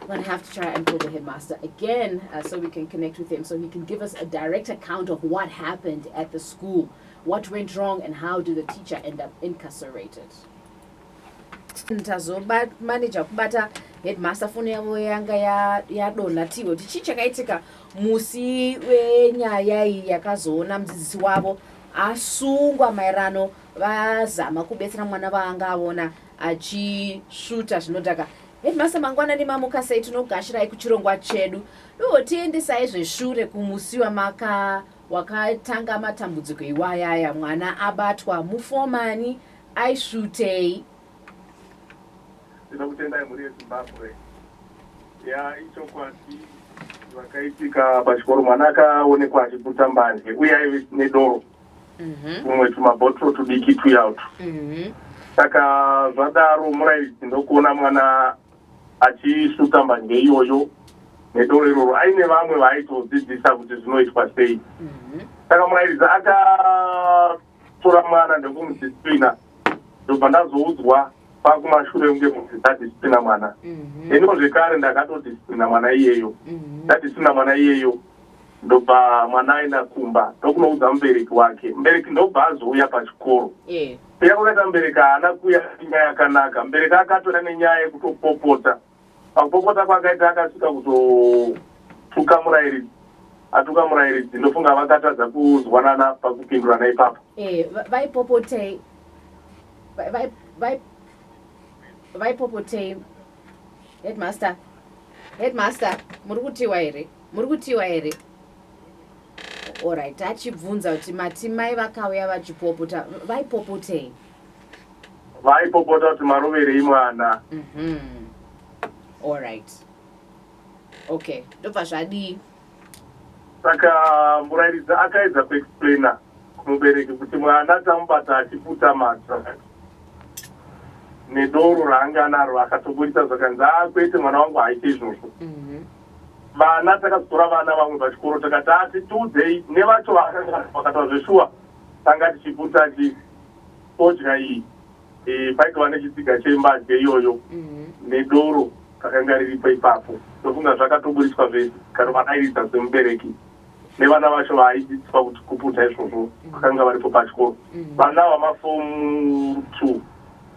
I'm going to have to try and call the headmaster again uh, so we can connect with him so he can give us a direct account of what happened at the school, what went wrong, and how did the teacher end up incarcerated. tazomanija kubata headmaster foni yavo yanga yadonha tiwo kuti chii chakaitika musi wenyaya iyi yakazoona mudzidzisi wavo asungwa maerano vazama kubetsera mwana vaanga avona achisvuta zvinodhaka Headmaster mangwanani mamuka sei tinogashirai kuchirongwa chedu doo tiendesai zveshure kumusiwa maka wakatanga matambudziko iwayaya mwana abatwa mufomani aisvutei tinokutendai mhuri yezimbabwe ya ichokwadi vakaitika pachikoro mwana akaonekwa achiputa mbanje uye aive nedoro mhm. tumwe tumabotoro tudiki tuya utu mhm. saka zvadaro murairidzi ndokuona mwana achisuta mbanje iyoyo nedoro iroro aine vamwe vaaitodzidzisa kuti zvinoitwa sei mhm. saka murairidzi akatora mwana ndokumudispina ndobva ndazoudzwa pakumashure kunge muti ndadispina mwana iniwo zvekare ndakatodispina mwana iyeyo ndadispina mwana iyeyo mm -hmm. ndobva mwana aenda kumba ndokunoudza mubereki wake mubereki ndobva azouya pachikoro eh. kuya kwakaita mubereki haana kuya nyaya yakanaka mubereki akatora nenyaya yekutopopota pakupopota kwakaita akasvika kuzotuka murairidzi atuka murairidzi ndofunga vakatadza kuzwanana pakupindurana ipapo eh, vaipopotei vaipopotei Headmaster. Headmaster, muri kutiwa here? Muri kutiwa here? Alright, achibvunza kuti mati mai vakauya vachipopota, vaipopotei? Vaipopota kuti maroverei mwana. Mhm. Alright. Okay, ndobva zvadii? Saka murairidzi akaedza kuexplaina kumubereki kuti mwana tamubata achiputa madrugs nedoro raanga anaro akatomboita zvakanzi a ah, kwete mwana wangu haaite izvozvo mhm. vana takazotora vana vamwe pachikoro takati ati tiudzei nevacho vakataura zveshuwa tanga tichiputa ti todya iyi Eh, paitova nechitsiga chembanje iyoyo mhm. nedoro rakanga riripo ipapo ndofunga zvakatoburitswa zvese kanovadairidza semubereki nevana vacho vaadzidziswa kuti kuputa izvozvo mhm. vakanga varipo pachikoro mhm. vana vamafomu two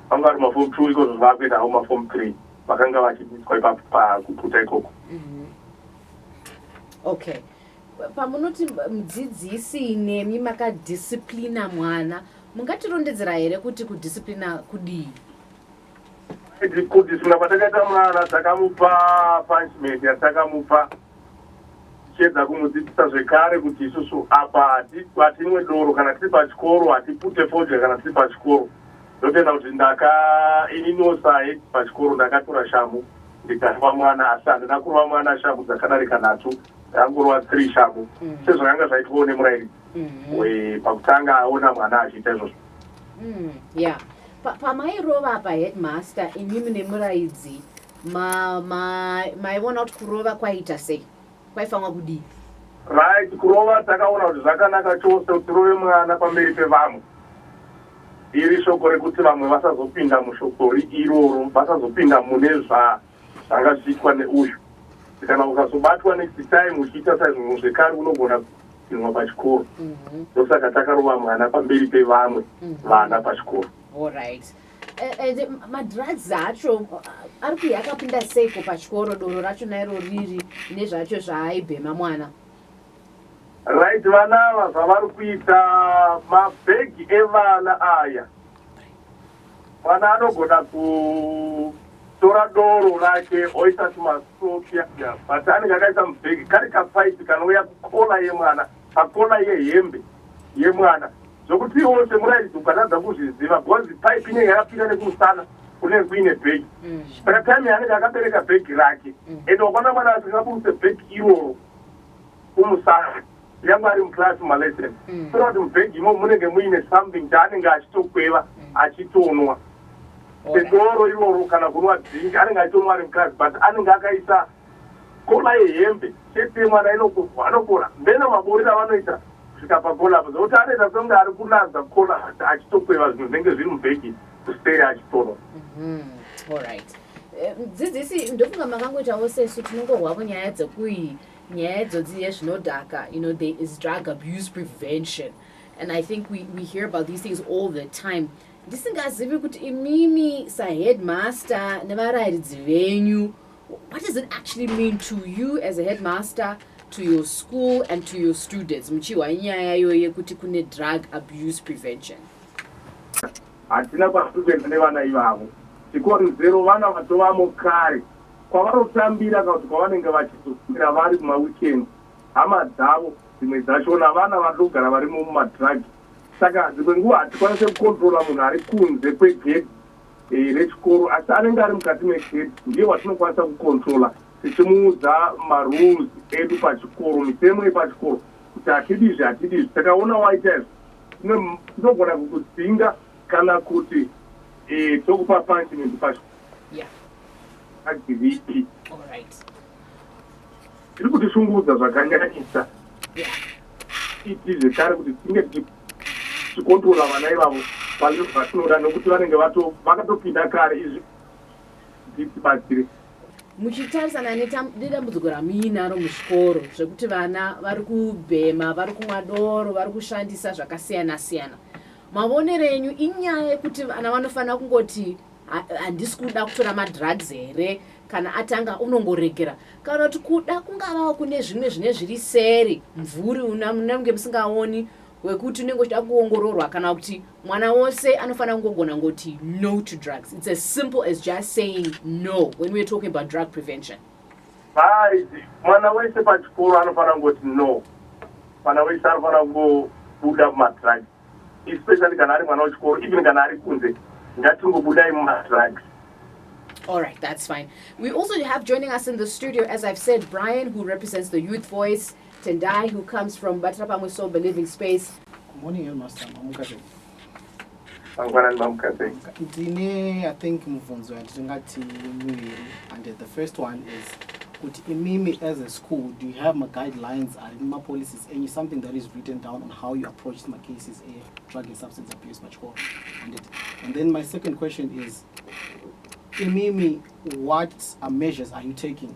vanga vari mafomu two ikozvo zvavakuenda avo mafomu three vakanga vachidzidziswa ipapo pakuputa ikoko okay pamunoti mudzidzisi nemi makadisciplina mwana Mungatirondedzera here kuti kudisciplina kudii? Kudisciplina kwatakaita mwana takamupa punishment yatakamupa tichiedza kumudzidzisa zvekare kuti isusu apa hatimwe doro kana tiri pachikoro hatipute fodya kana tiri pachikoro ndotenda kuti ndaka ininiwo sahe pachikoro ndakatora shamhu ndikarova mwana asi handina kurova mwana shamhu dzakadarika nhatu ndangorova three shamhu mm. sezvakanga zvaitwawo nemurairidzi Mhm. we pakutanga aona mwana achiita izvozvo Mm, yeah. Pa- pamairova apa headmaster imimi nemuraidzi ma- ma- maiona kuti kurova kwaiita sei kwaifanwa kudii right kurova takaona kuti zvakanaka chose kuti rove mwana pamberi pevamwe iri shoko rekuti vamwe vasazopinda mushokori iroro vasazopinda mune zva Zvanga zvichiitwa neuyu kana ukazobatwa next time uchiita saizvozvo zvekare unogona kuinwa pachikoro mhm. ndosaka takarova mwana pamberi pevamwe mhm. vana pachikoro eh, eh, madrugs acho uh, ari kuya akapinda seiko pachikoro doro racho nairo riri nezvacho zvaaibhema mwana right vana ava zvavari kuita mabhegi evana aya Mwana anogona kutora doro rake oisa tumasokia but anenge akaisa mubhegi kari kapaipi kanouya kukona yemwana pakona yehembe yemwana zvokuti iwo semurairidzi ukatadza kuzviziva bcause paipi inenge yakapinda nekumusana kunenge kuine bhegi mm. saka time yaanenge akabereka bhegi rake mm. and wakwana mwana asingaburuse bhegi iroro kumusana nyangwe ari muclass malesson mm. kuona kuti mubhegi imo munenge muine something chaanenge achitokweva mm. achitonwa sedoro iroro kana kunwa drink anenge achitonwa ari muclass but anenge akaisa kola yehembe chete yemwana inokuvwa anokora mbena maborera vanoita kusvika pakola apo zvokuti anoita songe ari kunaza kola achitokweva zvinhu zvinenge zviri mubhegi kuseri achitonwa mm-hmm. Eh, mudzidzisi ndofunga makangoitawo sesu tinongorwavo nyaya dzekui nyaya idzodzi yezvinodhaka you know there is drug abuse prevention and i think we, we hear about these things all the time ndisingazivi kuti imimi saheadmaster nevarayiridzi venyu what does it actually mean to you as a headmaster to your school and to your students muchihwa nyaya yoye kuti kune drug abuse prevention Hatina kwatiri kuenda nevana ivavo. Chikonzero vana vatovamo kare. Kwavanotambira kana kuti kwavanenge vachizoswera vari kumaweekend hama dzavo dzimwe dzacho navana vari kugara varimo mumadrug saka dzimwe nguva hatikwanise kucontrola munhu ari kunze kwegedhi eh, rechikoro asi anenge ari mukati megedhi ndiye watinokwanisa kucontrola tichimuudza marules edu pachikoro mitemo yepachikoro kuti hatidi izvi hatidi izvi takaona waita izvi ndogona kukudzinga kana kuti eh, tokupa punishment pacho agiripi tiri kutishungurudza zvakanyanyisa iti zvekare kuti tinge tichikontrola vana ivavo pane vatinoda nokuti vanenge vakatopinda kare izvi titibatsire muchitarisana nedambudziko ramuinaro muzvikoro zvekuti vana vari kubhema vari kumwa doro vari kushandisa zvakasiyana siyana mavonero enyu inyaya yekuti vana vanofanira kungoti handisi kuda kutora madrugs here kana atanga unongoregera kana kuti kuda kungavawo kune zvimwe zvine zviri seri mvuri unenge musingaoni wekuti unenge uchida kuongororwa kana kuti mwana wose anofanira kungogona ngoti no to drugs it's as simple as just saying no when weare talking about drug prevention haizi mwana wese pachikoro anofanira kungoti no mwana wese anofanira kungobuda mumadrugs especially kana ari mwana wechikoro even kana ari kunze ngatingobudai mumadrugs All right, that's fine. We also have joining us in the studio, as I've said, Brian, who represents the Youth Voice. Tendai who comes from Batira Pamwe Soul Believing Space. Good morning headmaster mamuka sei? Mangwanani mamuka sei? Ndine I think mubvunzo yatingati miviri and the first one is kuti imimi as a school do you have ma guidelines ari muma policies enyu something that is written down on how you approach ma cases a drug and substance abuse pachikoro and, it, and then my second question is imimi what are measures are you taking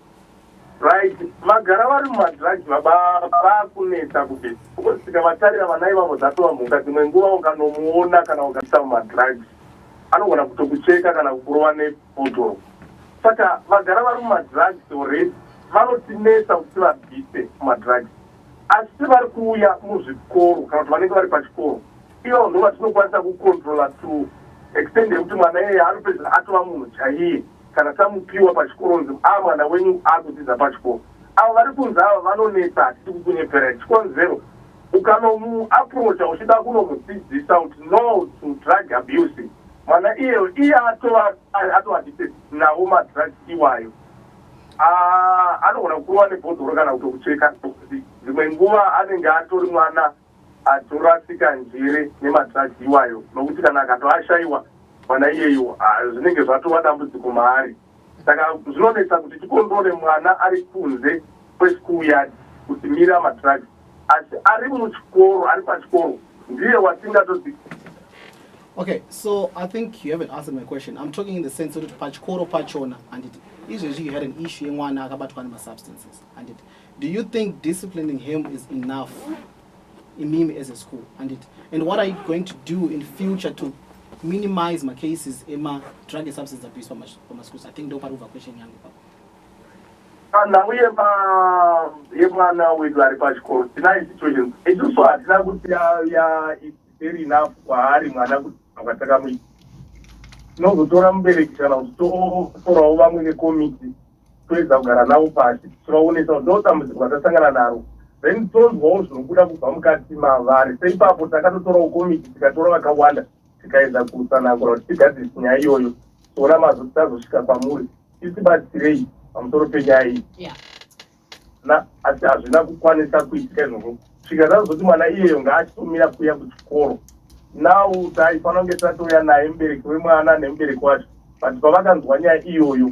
Right, vagara vari mumadrugs baba vakunetsa kuti ukosvika vatarira vana ivavo dzatova mhuka dzimwe nguva ukanomuona kana ukaisa mumadrugs anogona kutokucheka kana kukurova nebotoro saka vagara vari mumadrugs already vanotinetsa kuti vabvise mumadrugs asi vari kuuya muzvikoro kana kuti vanenge vari pachikoro ivo ndo vatinokwanisa kucontrola to extend yekuti mwana iyeye anopedzera atova munhu chaiye Kana tamupiwa pachikoro onzi ah mwana wenyu akudzidza pachikoro. Avo vari kunze ava vanonetsa hatisi kukunyeperai. Chikonzero ukanomu approacher uchida kunomudzidzisa kuti no to drug abuse mwana iyeyo iye atova atova addicted nawo madrugs iwayo. Ah anogona kukurova nebhodhoro kana kutokucheka. Dzimwe nguva anenge atori mwana Atorasika njere nema drugs iwayo nokuti kana akatoashaiwa mwana iyeyu zvinenge zvatova dambudziko maari saka zvinonetsa kuti tikontrole mwana ari kunze kwe school yard kuti mira ma drugs asi ari muchikoro ari pachikoro ndiye watingatoti Okay, so I think you haven't answered my question. I'm talking in the sense that pachikoro pachona handiti izvezvi you had an issue yemwana akabatwa nema substances handiti Do you think disciplining him is enough? imimi as a school anditi and what are you going to do in future to minimize macases emadrug and substance abuse pamaschools i think ndo pari kubva question yangu pa nhau yemwana wedu ari pachikoro tinai situations isusu hatina kuti very enough kwaari mwana kuti anga takamuita tinozotora mubereki kana kuti totorawo vamwe nekomiti toedza kugara navo pasi tichivaonesa kuti ndodambudziko ratasangana naro then tonzwawo zvinobuda kubva mukati mavari seipapo takatotorawo komiti tikatora vakawanda tikaedza kutsanangura kuti tigadzirisi nyaya iyoyo tiona mazvo tichazosvika kwamuri tisibatsirei pamusoro penyaya iyi na asi hazvina kukwanisa kuitika izvozvo svika zazoti mwana iyeyo ngaachitomira kuya kuchikoro now taifanira kunge tatouya naye mubereki wemwana nemubereki wacho but pavakanzwa nyaya iyoyo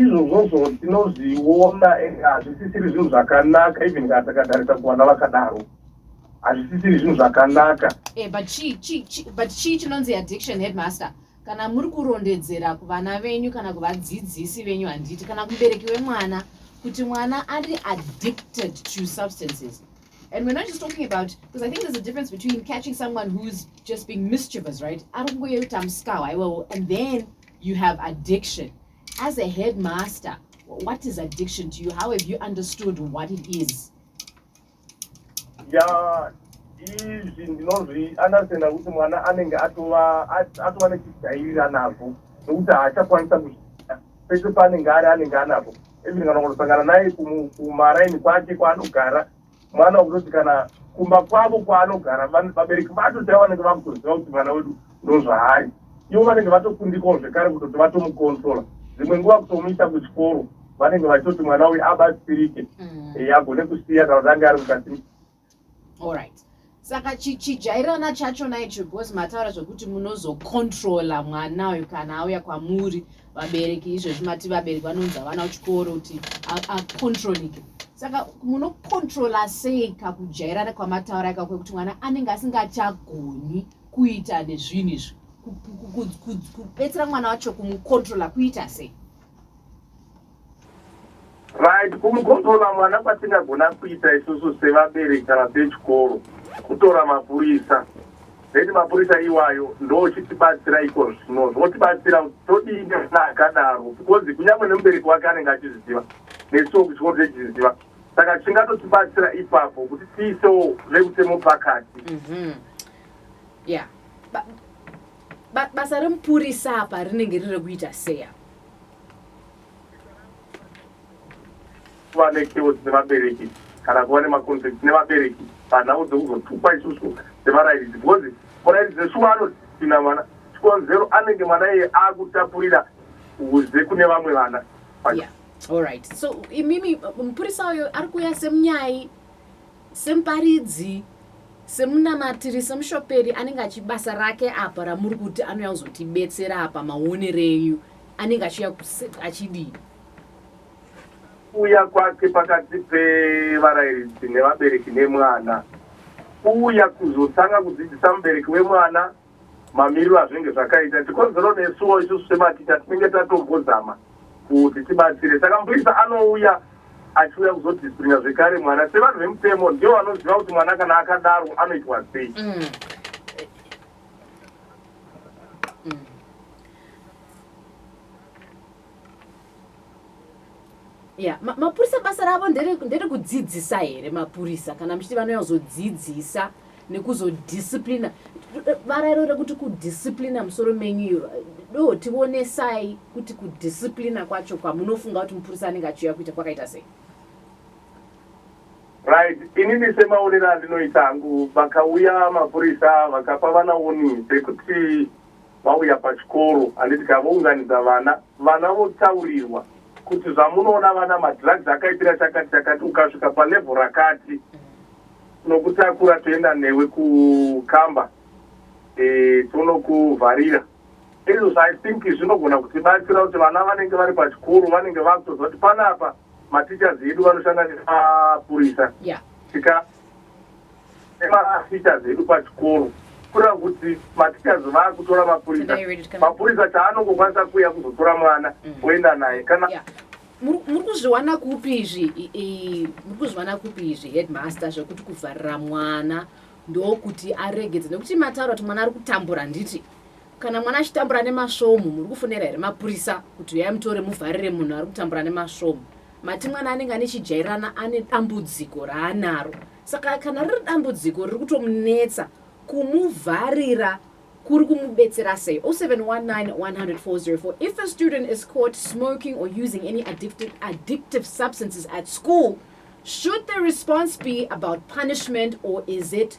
izvozvozvo tinozviona ende hazvisisiri zvinhu zvakanaka even kana takatarisa kuvana vakadaro hazvisisiri zvinhu zvakanaka eh, but chii chinonzi addiction headmaster kana muri kurondedzera kuvana venyu kana kuvadzidzisi venyu handiti kana kubereki wemwana kuti mwana ari addicted to substances And we're not just talking about, because I think there's a difference between catching someone who's just being mischievous, right? And then you have addiction as a headmaster what is addiction to you how have you understood what it is yeah izvi ndinozvi understanda kuti mwana anenge atova atova nechijairira nazvo nokuti haachakwanisa kuzviita pese paanenge ari anenge anazvo even kana kunosangana naye kumaraini kwake kwaanogara mwana wekutoti kana kumba kwavo kwaanogara vabereki vacho chaivo vanenge vakutoziva kuti mwana wedu ndozvaari ivo vanenge vatokundikawo zvekare kutoti vatomukontrola dzimwe nguva kutomuita kuchikoro vanenge vachitoti mwana uyu abatsirike mm. eh, agone kusiya kana kuti ange ari mukati allright saka chijairana chacho naicho because mataura zvekuti munozocontrola mwana uyu kana auya kwamuri vabereki izvezvi mati vabereki vanonzi havana kuchikoro kuti acontrolike saka munocontrola sei kakujairana kwamataura ika kwekuti mwana anenge asingachagoni kuita nezvinhu izvi kubetsera mwana wacho kumucontrola kuita sei right kumukontrola mwana kwatingagona kuita isusu sevabereki kana sechikoro kutora mapurisa then mapurisa iwayo ndochitibatsira iko zvino zvotibatsira kuti todii nevana akadaro because kunyange nemubereki wake anenge achizviziva nesuwo kuchikoro techiziziva saka chingatotibatsira ipapo kuti tiisewo vekutemo pakati Mhm. yeah Ba- ba- basa remupurisa apa rinenge riri rekuita seya kuva nekewo dzine vabereki kana kuva nemaconflict nevabereki panhau dzekuzotukwa isusu sevarairidzi because murairidzi neshuwa anotina mwana chikonzero anenge mwana iye akutapurira uze kune vamwe vana yeah. Alright. So imimi mupurisa uyo ari kuuya semunyai semuparidzi semunamatiri semushoperi anenge achibasa rake apa ramuri kuti anouya kuzotibetsera apa maonero enyu anenge achiuya achidii kuuya kwake pakati pevarairidzi nevabereki nemwana kuuya kuzotanga kudzidzisa mubereki wemwana mamiriro azvinenge zvakaita tikonzero nesuwo isusu sematicha tinenge tatombozama kuti tibatsire saka mupurisa anouya achiuya kuzodisciplina zvekare mwana sevanhu vemutemo ndivo vanoziva kuti mwana kana akadaro anoitwa sei mm. ya ma, mapurisa basa ravo nderekudzidzisa here mapurisa kana muchiti vanouya kuzodzidzisa nekuzodisciplina varairo rekuti kudisciplina musoro menyu do tionesai kuti kudisciplina kwacho kwamunofunga kuti mupurisa anenge achiuya kuita kwakaita sei Right inini semaonero andinoita hangu vakauya mapurisa vakapa vana woni dzekuti vauya pachikoro handiti ka vounganidza vana vana votaurirwa kuti zvamunoona vana madrugs akaipira chakati chakati ukasvika palevel rakati nokutakura toenda newe kukamba e, eh, tonokuvharira izvozvo i think zvinogona kutibatsira kuti vana vanenge vari pachikoro vanenge vakutoziva kuti panapa mateachers edu vanoshanda nemapurisa tika nemaateachers edu pachikoro kura kuti mateachers vaakutora mapurisa mapurisa chaanongokwanisa kuuya kuzotora mwana mm. oenda naye kana muri kuzviwana kupi izvi muri kuzviwana kupi izvi headmaster zvekuti kuvharira mwana ndokuti aregedze nekuti mataura kuti mwana ari kutambura handiti Kana mwana achitambura nemasvomhu muri kufonera here mapurisa kuti huyai mutore muvharire munhu ari kutambura nemasvomhu? Mati mwana anenge ane chijairirana ane dambudziko raanaro. Saka kana riri dambudziko riri kutomunetsa kumuvharira kuri kumubetsera sei 0719104004 if a student is caught smoking or using any addictive, addictive substances at school should the response be about punishment or is it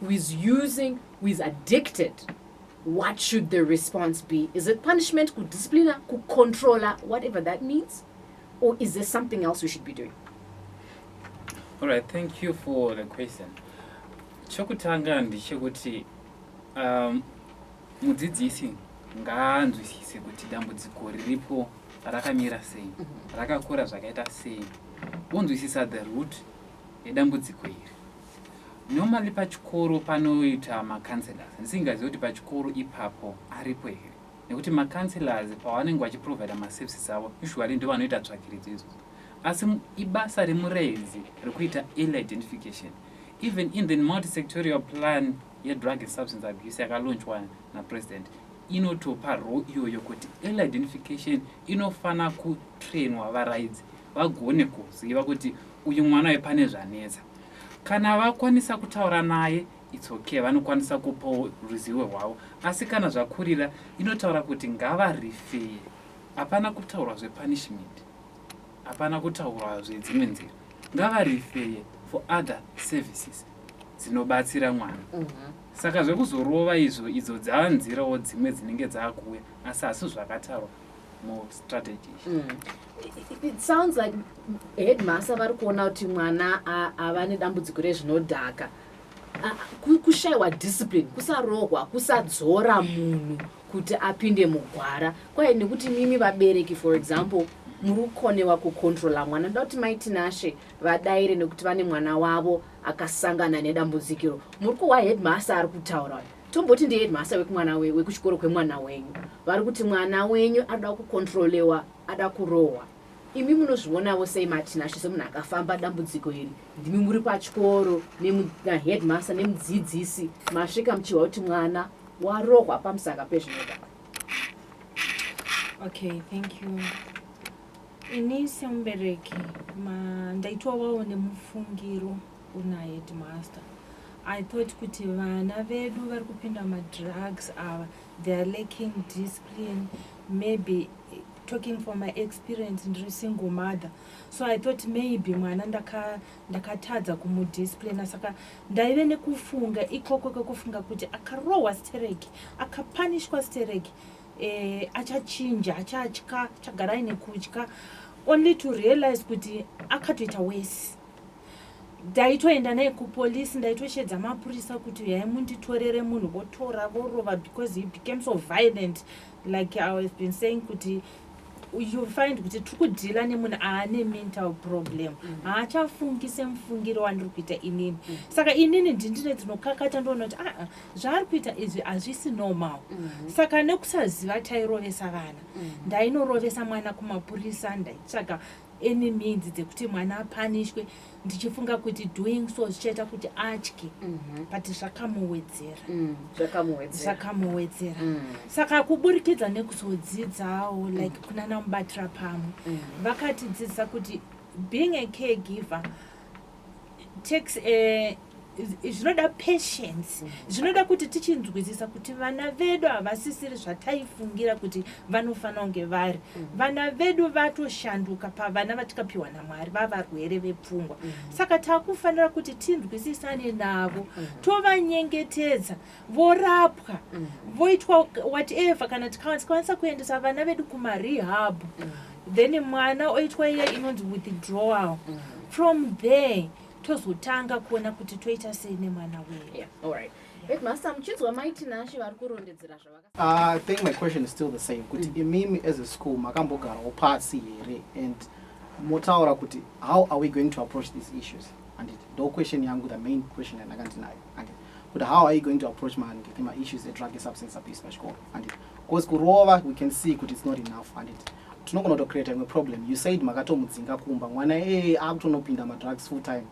who is using who is addicted what should the response be is it punishment kudisciplina kucontroller whatever that means or is there something else we should be doing all right thank you for the question chokutanga ndechekuti um, mudzidzisi ngaanzwisise kuti dambudziko riripo rakamira sei mhm. rakakura zvakaita sei wonzwisisa the root yedambudziko iri Normally pachikoro panoita ma counsellors ndisingazive kuti pachikoro ipapo aripo here nekuti ma counsellors pavanenge vachi provider ma services avo usually ndovanoita tsvakiridzo idzodzo asi ibasa remuredzi rekuita early identification even in the multisectorial plan yedrug and substance abuse yakalaunchwa napresident inotopa role iyoyo kuti early identification inofanira kutrainwa varaidzi vagone kuziva kuti uyu mwana wepane zvanetsa Kana vakwanisa kutaura naye it's okay vanokwanisa kupawo ruzivo rwavo asi kana zvakurira inotaura kuti ngavarifeye hapana kutaurwa zvepunishment hapana kutaurwa zvedzimwe nzira ngavarifeye for other services dzinobatsira mwana mhm. saka zvekuzorova izvo idzo dzava nzirawo dzimwe dzinenge dzaakuuya asi hasi zvakataurwa mustrategy mm. It sounds like headmaster vari kuona kuti mwana ava nedambudziko rezvinodhaka kushaiwa discipline kusarohwa kusadzora munhu kuti apinde mugwara kwaye nekuti mimi vabereki for example muri kukonewa kucontrola mwana ndoda kuti maitinashe vadaire nekuti vane mwana wavo akasangana nedambudzikiro muri kuhwa headmaster ari kutaura tomboti ndiheadmaster wekumwana wekuchikoro kwemwana wenyu vari kuti mwana wenyu anoda kucontrolewa ada kurohwa imi munozvionavo sei matinashe semunhu akafamba dambudziko iri ndimi muri pachikoro naheadmaster nemudzidzisi masvika muchihwa kuti mwana warohwa pamusaka pezvinoda okay thank you ini semubereki ndaitovawo nemufungiro una headmaster i thought kuti vana vedu vari kupinda madrugs ava They are lacking discipline maybe talking from my experience ndiri single mother so i thought maybe mwana ndakatadza ndaka kumudisciplina saka ndaive nekufunga ikoko kwekufunga kuti akarohwa stereki akapanishwa stereki eh, achachinja achatya chagara aine kutya only to realize kuti akatoita wesi Ndaitoenda naye kupolice ndaitosheedza mapurisa kuti huyai munditorere munhu votora vorova because he became so violent like i was been saying kuti you find kuti tiri kudhila nemunhu aane mental problem mm. haachafungi semufungiro wandiri kuita inini mm. saka inini ndindine dzinokakata ndoona kuti aa ah, zvaari kuita izvi hazvisi normal mm. saka nekusaziva tairovesa vana ndainorovesa mwana kumapurisa ndaitsvaga any means dzekuti mwana apanishwe ndichifunga kuti doing so zvichaita kuti atye mhm. but zvakamuwedzera mm, zvakamuwedzera mm. saka kuburikidza nekuzodzidzawo like mm. kunana mubatira pamwe vakatidzidzisa kuti being a care giver takes eh, zvinoda patience zvinoda kuti tichinzwisisa kuti vana vedu havasisiri zvataifungira kuti vanofanira kunge vari vana vedu vatoshanduka pavana vatikapiwa namwari vavarwere vepfungwa saka takufanira kuti tinzwisisane navo tovanyengetedza vorapwa mm. voitwa whatever kana tikwanisa kuendesa vana vedu kumarehab mm. then mwana oitwa iye inonzi withdrawal mm. from there tozotanga kuona kuti toita sei nemwana wedu yeah. right. Headmaster, muchinzwa mai Tinashe vari kurondedzera zvavaka. Ah, I think my question is still the same. Kuti mm. imimi as a school makambogarawo pasi here and motaura kuti how are we going to approach these issues? And it, no question yangu the main question yandakandinayo. And it, kuti how are you going to approach ma handicap ma issues edrug and substance abuse pachikoro handit because kurova we can see kuti it's not enough handit tinogona kutocreata imwe problem you said makatomudzinga kumba mwana ee eh, akutonopinda madrugs full time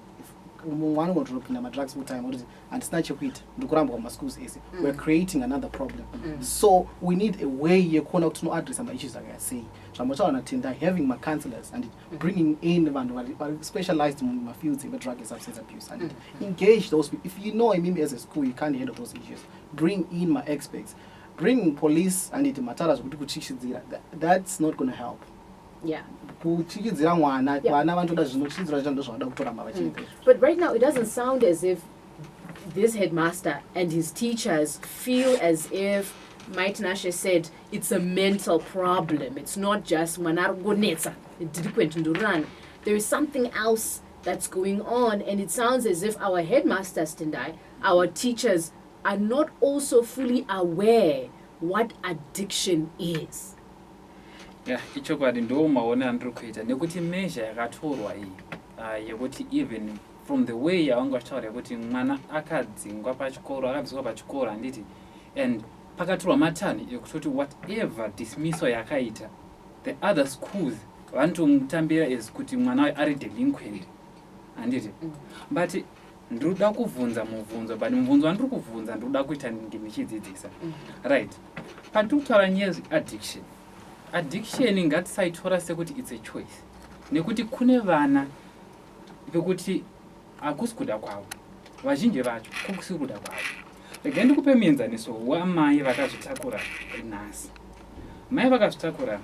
mwana unotonopinda madrugs full time kuti handisina chekuita ndikurambwa mumaschools ese mm. weare creating another problem mm. so we need a way yekuona kuti tinoaddressa maissues akaya sei zvambotaura natendai having macounselors handit bringing in vanhu vari specialized mumafields emadrug and substance abuse and mm-hmm. engage those people if you know imimi as a school you can't handle those issues bring in maexperts bring police anditi matara zvekuti kutyisidzira that's not gonna help yeah kutyisidzira mwana vana vanotoda zvinotyisidzira zvacho ndozvavanoda kutoramba vachiita mm. but right now it doesn't sound as if this headmaster and his teachers feel as if might nashe said It's a mental problem. It's not just mwana ari kungonetsa, delinquent ndururani. There is something else that's going on and it sounds as if our headmasters Tendai, our teachers are not also fully aware what addiction is. Yeah, ichokwadi ndo maone andiri kuita nekuti measure yakatorwa iyi uh, yekuti even from the way yavanga vachitaura yekuti mwana akadzingwa pachikoro akabviswa pachikoro handiti and Pakatorwa matanho ekutoti whatever dismissal yakaita the other schools vanotomutambira as kuti mwana wayo ari delinquent handiti but ndiri kuda kuvhunza mubvunzo but mubvunzo wandiri kuvhunza ndiri kuda kuita ndinge ndichidzidzisa right pandiri kutaura nyaya addiction addiction ngatisaitora sekuti its a choice nekuti kune vana vekuti Hakusi kuda kwavo. Vazhinji vacho kukusi kuda kwavo. Regai ndikupe muenzaniso wamai vakazvitakura nhasi. Mai vakazvitakura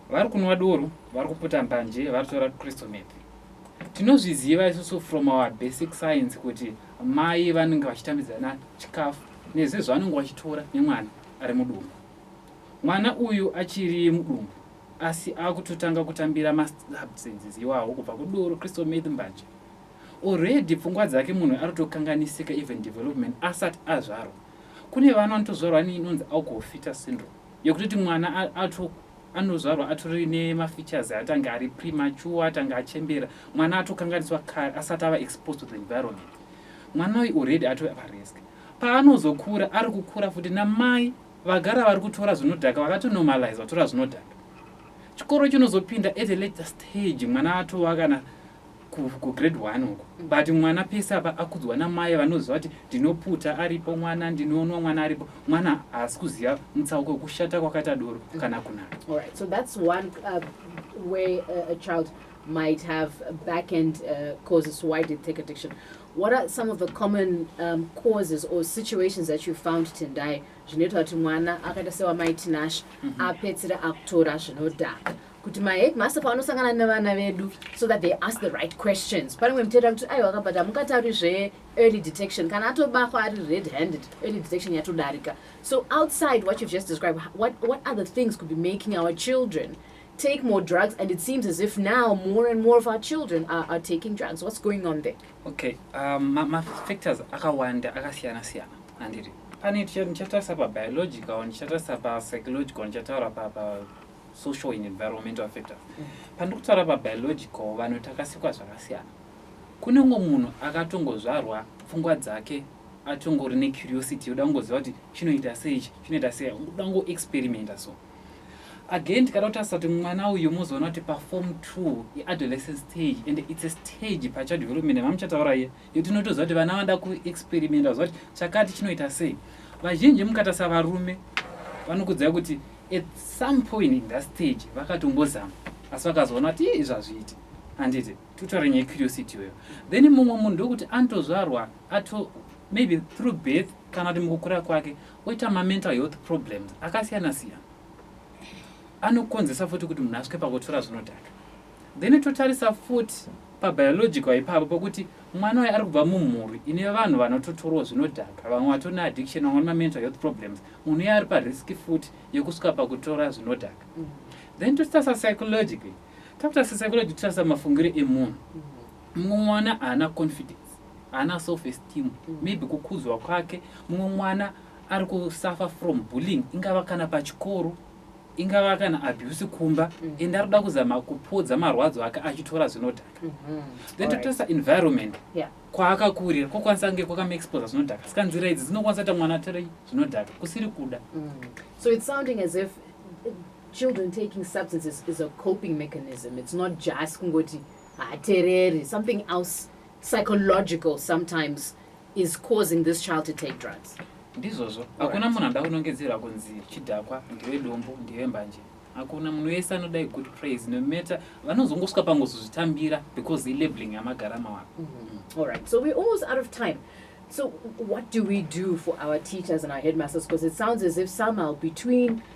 vari kunwa doro, vari kuputa mbanje, vari kutora crystal meth. Tinozviziva isusu from our basic science kuti mai vanenge vachitambidzana chikafu nezvezvavanenge vachitora nemwana ari mudumbu. Mwana uyu achiri mudumbu Asi akutotanga kutambira ma substances iwawo kubva kudoro crystal meth mbanje. Already pfungwa dzake munhu aritokanganisika even development asat azvarwa. Kune vana vanotozvarwa neinonzi alcohol fetus syndrome yekutoti mwana ato anozvarwa atori nema features atange ari premature atange achembera mwana atokanganiswa kare asati ava exposed to the environment. Mwana uyu already atove parisk paanozokura ari kukura futi namai Vagara vari kutora zvinodhaka vakato normalize vatora zvinodhaka. Chikoro chinozopinda at a later stage mwana atova kana kugrade ku one uko mm. but mwana pese apa akudzwa namai vanoziva kuti ndinoputa aripo mwana ndinonwa mwana aripo mwana haasi kuziva mutsauko wekushata kwakaita doro kana kunaka right, so that's one, uh, way, uh, a child might have back end uh, causes why did take addiction what are some of the common um, causes or situations that you found tendai zvinoita kuti mwana akaita sewamai tinasha mm -hmm. apedzisira akutora zvinodhaka kuti maheadmaster pavanosangana nevana vedu so that they ask the right questions pane mwe mutera kuti aiwa kabata mukatauri zve early detection kana atobakwa ari red handed early detection yatodarika so outside what you've just described what, what other things could be making our children take more drugs and it seems as if now more and more of our children are, are taking drugs what's going on there okay um, mafactors ma akawanda akasiyana siyana andiri pane ndichatarisa pabiological ndichatarisa papsychological ndichataura papa social and environmental factors mm. pandiri kutaura pabiological vanhu takasikwa zvakasiyana kunenge munhu akatongozvarwa pfungwa dzake atongori necuriosity yoda kungoziva kuti chinoita seichi chinoita sei uda kungoexperimenta so Again tikada kutarisa kuti mwana uyu mozoona kuti paform two iadolescent stage and its a stage pachild development vamuchataura iye yo tinotoziva kuti vana vanoda kuexperimenta kuziva kuti chakati chinoita sei vazhinji mukatarisa varume vanokudzai kuti at some point in that stage vakatombozama asi vakazoona kuti izvi hazviiti handiti tutori nyaya curiosity iyoyo then mumwe munhu ndokuti anotozvarwa ato maybe through birth kana kuti mukukura kwake Oita ma mental health problems akasiyana siyana anokonzesa futi kuti munhu asvike pakutora zvinodhaka then totarisa futi pabiological ipapo pokuti mwana waye ari kubva mumhuri ine vanhu vanototorwa zvinodhaka vamwe vatori neaddiction vamwe vane mamental health problems munhu iye ari parisk futi yekusvika pakutora zvinodhaka mm. then totarisa psychologically takutarisa psychology totarisa mafungiro emunhu mm. mumwe mwana haana confidence haana self esteem mm. maybe kukudzwa kwake mumwe mwana ari kusuffer from bullying ingava kana pachikoro ingava kana abuse kumba mm. ende ari kuda kuzama kupodza marwadzo ake achitora zvinodhaka mm-hmm. then totarisa environment kwaakakurira kwokwanisa kunge kwakamaexposa zvinodhaka saka nzira idzi dzinokwanisa kuita mwana atorei zvinodhaka kusiri kuda mm. so its sounding as if children taking substances is a coping mechanism it's not just kungoti haatereri something else psychological sometimes is causing this child to take drugs ndizvozvo hakuna munhu anoda kunongedzerwa kunzi chidhakwa ndiwe dombo ndiwe mbanje hakuna munhu wese anoda good praise no matter vanozongosvika pangozozvitambira because ilabeling yamagara mawako mm -hmm. all right so we're almost out of time So, what do we do for our teachers and our headmasters? Because it sounds as if somehow between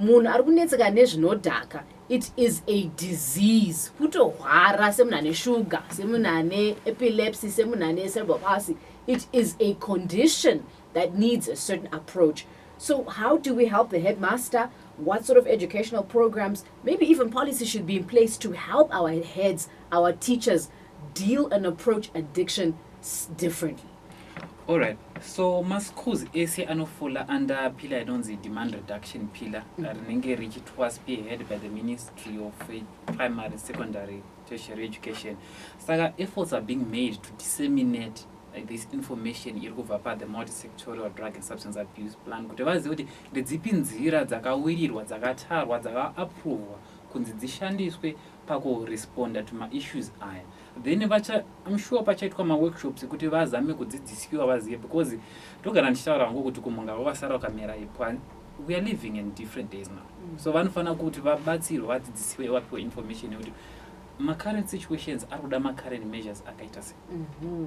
Munhu ari kunetseka nezvinodhaka it is a disease kutohwara semunhu ane sugar semunhu ane epilepsy semunhu ane cerebral palsy it is a condition that needs a certain approach so how do we help the headmaster what sort of educational programs maybe even policy should be in place to help our heads our teachers deal and approach addiction differently Alright, so maschools ese anofola under pillar inonzi demand reduction pillar mm. rinenge richitwa spearhead by the ministry of primary secondary tertiary education saka efforts are being made to disseminate like this information iri kubva pa the multisectorial drug and substance abuse plan kuti vazive kuti ndedzipi nzira dzakawirirwa dzakatarwa dzakaaprovwa kunzi dzishandiswe paku responder to ma issues aya then vacha I'm sure pachaitwa ma workshops ekuti vazame kudzidzisiwa vazive because ndogara ndichitaura hangu kuti kumhunga kwavasara ukamera we are living in different days now mm. so vanofanira kuti vabatsirwe vadzidzisiwe vapiwe information yekuti ma current situations ari kuda ma current measures akaita sei mm -hmm.